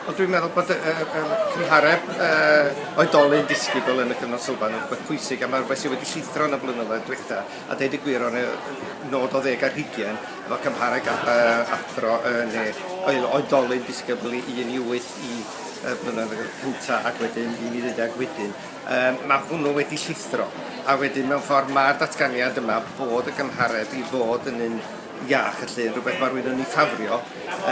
Wel, dwi'n meddwl bod y, y, y cymhareb uh, oedolyn disgybl yn y cyfnod sylfaen yn rhywbeth pwysig a mae rhywbeth sydd wedi llithro yn y blynyddoedd diwetha a deud y gwir o'n nod o ddeg ar hugen efo cymhareb uh, athro yn ne oedolyn disgybl i 1 i 8 i y blynedd cynta ac wedyn i mi ddeuddeg wedyn. Um, mae hwnnw wedi llithro a wedyn mewn ffordd mae'r datganiad yma bod y gymhareb i fod yn un iach, felly rhywbeth mae rhywun yn ei ffafrio,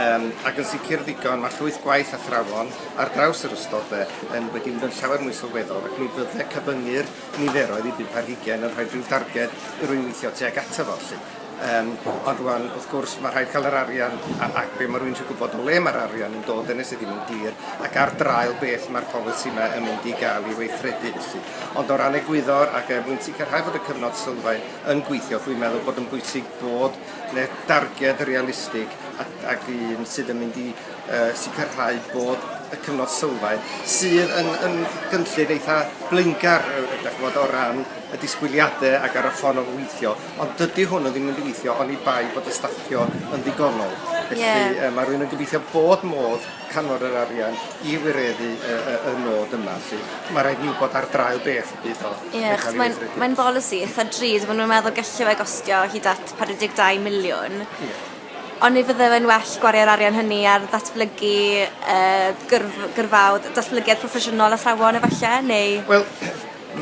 um, ac yn sicr ddigon, mae llwyth gwaith athrawon ar draws yr ystod fe, yn wedi mynd yn llawer mwy sylweddol, ac mi fydde cyfyngu'r niferoedd i bump ar hugain yn rhoi rhyw darged i rwy'n weithio tuag ato fo, felly. Um, ond rwan, wrth gwrs, mae rhaid cael yr arian ac be mae rwy'n eisiau gwybod o le mae'r arian yn dod yn nes ddim yn glir ac ar draul beth mae'r polisi yma yn mynd i gael ei weithredu felly. Ond o ran egwyddor ac er mwyn sicrhau fod y cyfnod sylfaen yn gweithio, dwi'n meddwl bod yn bwysig bod yna darged realistig ac, ac un sydd yn mynd i uh, sicrhau bod y cyfnod sylfaen sydd yn, yn gynllun eitha blaengar chymod, o ran y disgwyliadau ac ar y ffordd o weithio, ond dydy hwnnw ddim yn weithio ond i bai bod y staffio yn ddigonol. Felly yeah. uh, mae rhywun yn gobeithio bod modd canfod yr arian i wireddu y, y, y nod yma. Sy. Mae rhaid ni wybod ar draul beth y bydd o. Ie, yeah, mae'n mae bolisi eitha drud, maen nhw'n meddwl gallu fe gostio hyd at 42 miliwn. Yeah. Ond ni fydde fe'n well gwario'r arian hynny ar ddatblygu uh, gyrf, gyrfaodd, datblygiad proffesiynol athrawon efallai, neu... Wel,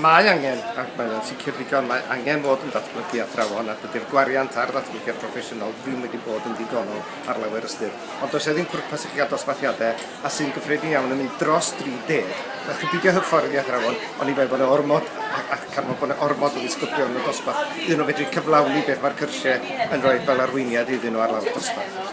mae angen, ac mae'n sicr ddigon, mae angen bod yn datblygu athrawon a dydy'r gwariant ar ddatblygiad proffesiynol ddim wedi bod yn ddigonol ar lawer ystyr. Ond does 'na ddim pwrpas i chi gael dosbarthiadau, a sy'n gyffredin iawn yn mynd dros 30. Dach chi'n peidio hyfforddi athrawon, oni bai bod 'na ormod, a, a gan fod bod 'na ormod o ddisgyblion yn y dosbarth, iddyn nhw fedru cyflawni beth mae'r cyrsiau yn rhoi fel arweiniad iddyn nhw ar lawr dosbarth.